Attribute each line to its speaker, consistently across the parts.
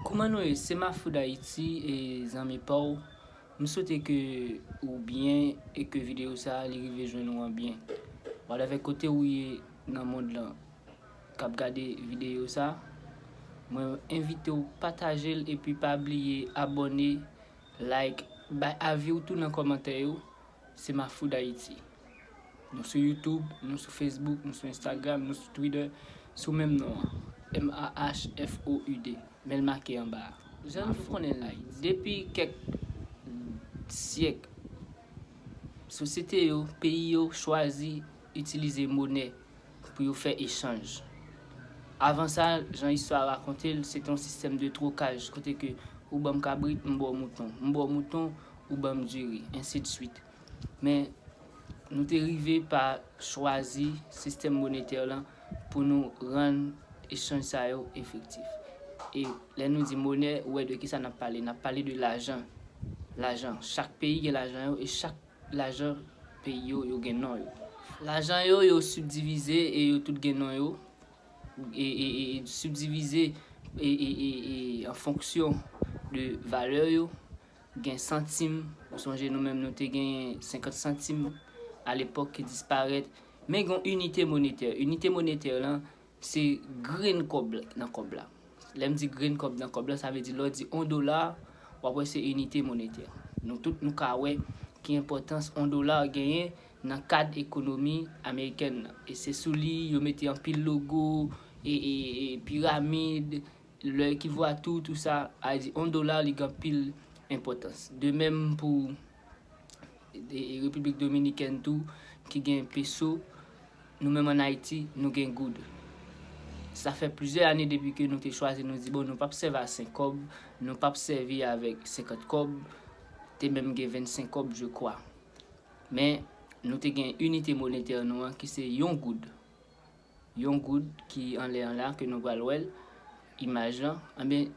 Speaker 1: Kouman nou ye se mafou dayiti e zanmi paw m swete ke ou byen e ke video sa li rive jwenn ou an byen whatever kote ou ye nan mond lan kap gade video sa mwen envitew patajel epi pa bliye abone like bay aviw tou nan komantè yo. Semafoudayiti. Nou sou Youtube, nou sou Facebook, nou sou Instagram, nou sou Twitter sou menm non an, MAHFOUD, men l make anba a. Jan nou konnen l, depi kèk syèk, sosyete yo, peyi yo chwazi itilize monè pou yo fè echanj. Avan sa, jan istwa a rakonte l, se te yon sistèm de twokaj kote ke ou ban m kabrit, m ba w mouton. M ba w mouton, ou ban m diri, ensi de suite. Men, nou te rive pa chwazi sistèm monetè lan pou nou rann echanj sa yo efektif. E lè nou di monè, ou wè de ki sa n ap pale, n ap pale de lajan, lajan. Chak peyi gen lajan yo e chak lajan peyi yo, yo gen non yo. Lajan yo, yo sibdivize e yo tout gen non yo, e sibdivize e an fonksyon de valè yo. Gen santim, ou sonje nou menm nou te genyen 50 santim a lepòk ki disparèt, men gen yon inite monetè. Inite monetè lan se grenn kòb nan kòb la. Lè m di grenn kòb nan kòb la, sa vle di lè w di yon dola, w ap wè se inite monetè. Nou tout nou ka wè ki enpòtans yon dola genyen nan kad ekonomi amerikèn nan. E se sou li yo mete anpil logo, e piramid. Lè ki vo a tou ou tou sa a di on dola li gen anpil enpòtans. De menm pou Repiblik Dominikèn tou ki gen peso, nou menm an Ayiti nou gen goud. Sa fè plizyè ane depi ke nou te chwazi nou di bon nou pap sèvi a 5 kòb, nou pap sèvi avèk 50 kòb, te menm gen 25 kòb je kwa. Men nou te gen inite monetè nou an ki se yon goud. Yon goud ki anlè an la ke nou pral wè l, imaj lan, anben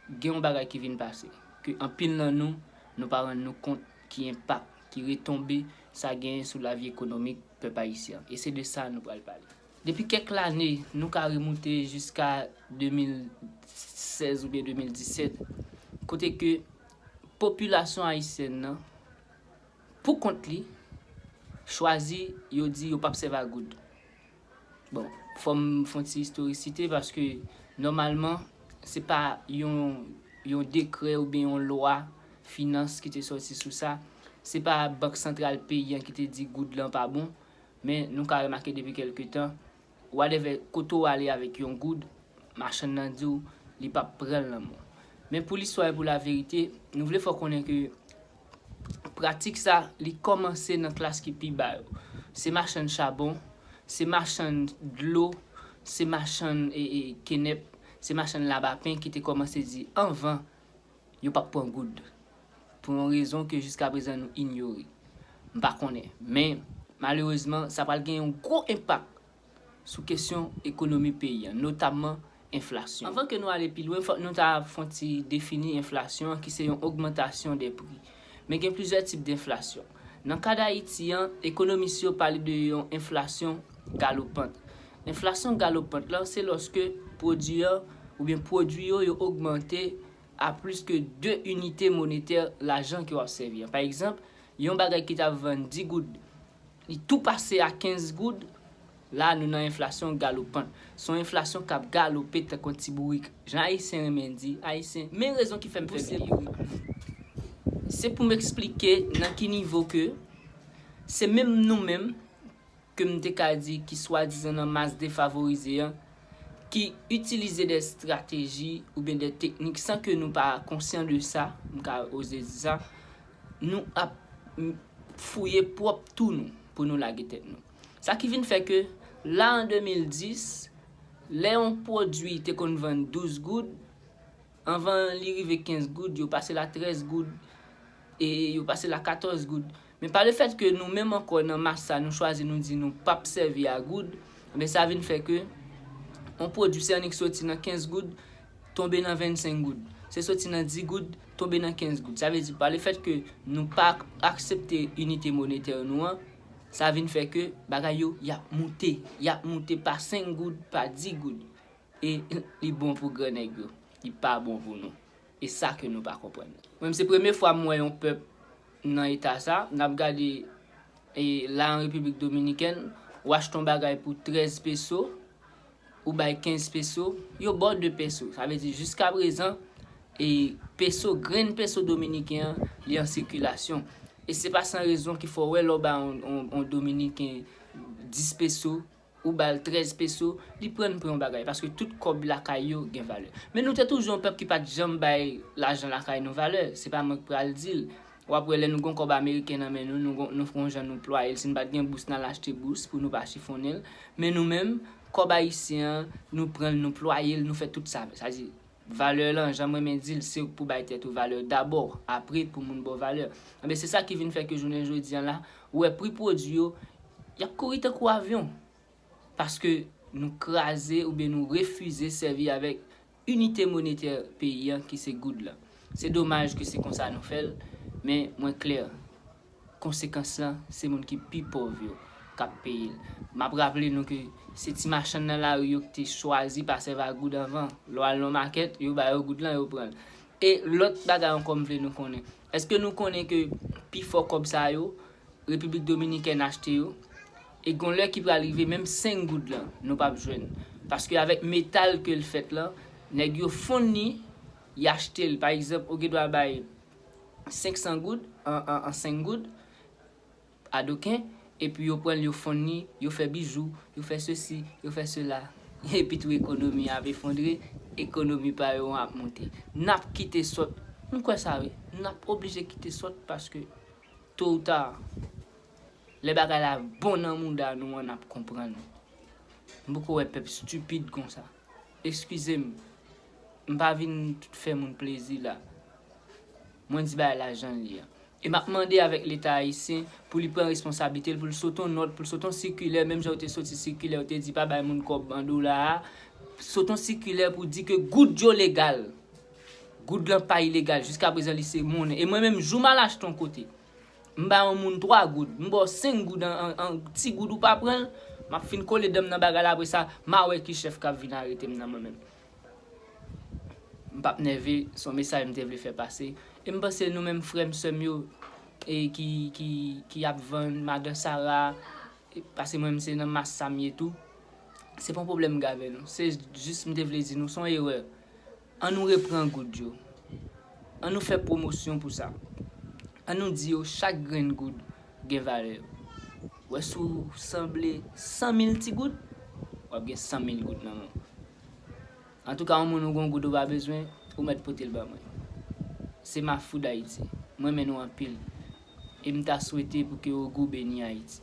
Speaker 1: gen yon bagay ki vin pase, ke anpil nan nou, nou pa rann nou kont ki enpak, ki retonbe sa genyen sou lavi ekonomik pèp ayisyen an. E se de sa nou pral pale. Depi kèk lane, nou ka remoute jiska 2016 oubyen 2017, kote ke popilasyon ayisyèn nan Pou kont li, chwazi yo di yo pap sèvi a goud. Bon, fò m fon ti istorisite paske nòmalman se pa yon yon dekrè oubyen yon lwa finans ki te sòti sou sa, se pa bank santral peyi an ki te di goud lan pa bon, men nou ka remake depi kèlke tan Wadèvè kote w ale avèk yon goud, machann nan di w li pap pran l nan men w. Men pou listwa e pou laverite, nou vle fè w konnen ke pratik sa li kòmanse nan klas ki pi ba yo. Se machann chabon, se machann dlo, se machann kenèp, se machann labapen ki te kòmanse di anvan yo pap pran goud pou yon rezon ke jiska prezan nou inyore. M pa konnen, men malerezman sa pral gen yon gwo enpak sou kesyon ekonomi peyi an, notamman enflasyon. Anvan ke nou ale pi lwen, fòk nou ta fon ti defini enflasyon an ki se yon ogmantasyon de pri. Men gen plizyè tip denflasyon. Nan kad Ayiti an, ekonomis yo pale de yon enflasyon galopant. Enflasyon galopant lan se lòske pwodui an oubyen pwodui yo yo ogmante a plis ke 2 inite monetè lajan ke w ap sèvi an. Pa egzanp, yon bagay ki t ap vann 10 goud Li tou pase a 15 goud, la nou nan enflasyon galopan. Se yon enflasyon k ap galope tankou yon ti bourik. Jan Ayisyen renmen di, Ayisyen, men rezon ki fè m fè bourik la. Bouse bourik. Se pou m eksplike nan ki nivo ke se menm nou menm ke m te ka di ki swadizan nan mas defavorize an ki itilize dè estrateji oubyen dè teknik san ke nou pa konsyan de sa, m ka oze di sa, nou ap fouye pwòp tou nou pou nou lage tèt nou. Sa ki vin fè ke la an 2010, lè yon pwodui te konn vann 12 goud, anvan li rive 15 goud, yo pase l a 13 goud, e yo pase l a 14 goud. Men pa le fèt ke nou menm ankò nan mas sa nou chwazi nou di nou p ap sèvi a goud, enben sa vin fè ke yon pwodui se annik soti nan 15 goud tonbe nan 25 goud. Se soti nan 10 goud tonbe nan 15 goud. Sa vle di pa le fèt ke nou pa aksepte inite monetè nou an, sa vin fè ke bagay yo y ap moute, y ap moute pa 5 goud, pa 10 goud. E li bon pou gran nèg yo, li pa bon pou nou. E sa ke nou pa konprann. Mwen menm se premye fwa m wè yon pèp nan eta sa. N ap gade la an Repiblik Dominikèn, w achte yon bagay pou 13 peso, ou bay 15 peso, yo ba w 2 peso. Sa vle di jiska prezan, e peso, grenn peso dominiken an, li an sikilasyon. E se pa san rezon ki fè w wè lè w ba yon dominiken 10 peso, ou ba l 13 peso, li pran l pou yon bagay. Paske tout kòb lakay yo gen valè. Men nou te toujou yon pèp ki pa t janm bay lajan lakay nou valè. Se pa mwen k pral di l. W ap wè lè nou gen yon kòb ameriken nan men nou, nou gon, nou gon jan nou plwaye l, si n pa t gen bous n al achte bous pou nou pa chifonnen l, men nou menm, kòb ayisyen an, nou pran l nou plwaye l, nou fè tout sa avè l. Sa di, valè lan, jan m renmen di l, se ou k pou bay tèt ou valè dabò, apre pou moun ba w valè. Enben, se sa ki vin fè ke jounen jodi an la, ou wè pri pwodui yo, y ap kouri tankou avyon, paske nou kraze oubyen nou refize sèvi avèk inite monetè peyi an ki se goud lan. Se domaj ke se konsa nou fè l, men mwen klè, konsekans lan se moun ki pi pòv yo k ap peye l. M ap raple nou ke se ti machann nan lari yo ki te chwazi pa sèvi ak goud anvan. Lè w al nan makèt, yo ba yo goud lan, yo pran l. E lòt bagay ankò m vle nou konnen, èske nou konnen ke pi fò kòb sa yo, Repiblik Dominikèn achte yo, E gon lè ki pral rive menm 5 goud lan nou pap jwenn paske avèk metal kel fèt lan nèg yo fonn li y achtel pa egzanp ou gendwa bay 500 goud an 5 goud a doken epi yo pranl yo fonn li yo fè bijou yo fè sesi yo fè sela epitou ekonomi an ap efondre ekonomi pa yo an ap moute nap kite sòt m kwè sa wi nap oblije kite sòt paske to ou ta. Lè bagay la bon nan mouda nou an nap konprann. M poko wè pèp stupid konsa. Eskizem m pa vin fè moun plezi la. Mwen di bagay la janl ye an. E map mande avèk leta ayisyen pou li pran responsablite l pou l sot on nòt, pou l sot on sikilè menm jan yo te soti sikilè yo te di pa bay moun kòb an dola a, sot on sikilè pou di ke goud yo legal. Goud lan pa ilegal jiskaprezan li se monnen. E mwen menm jou m al achte on kote M bay yon moun 3 goud, m ba w 5 goud an an ti goud ou pa pran l, m ap fin kole dan m nan bagay la apre sa m a wè ki chèf k ap vin arete m nan mwen menm. M p ap nève, s on mesaj m te vle fè pase. E m panse nou menm frè m, sè m yo e ki ki ki ap vann madan sara, pase mwen m se nan mas sa m ye tou, se pa yon pwoblèm m gen avè nou, se jis m te vle di nou s on erè. An nou repran goud yo. An nou fè pwomosyon pou sa. An nou di yo chak grenn goud gen valè yo. Wè si w sanble san mil ti goud, w ap gen san mil goud nan men w. Antouka yon moun ou gon goud ou pa bezwen, ou mèt pote l ba mwen. Se Mafou Dayiti. M renmen nou anpil. E m ta swete pou ke Ogou beni Ayiti.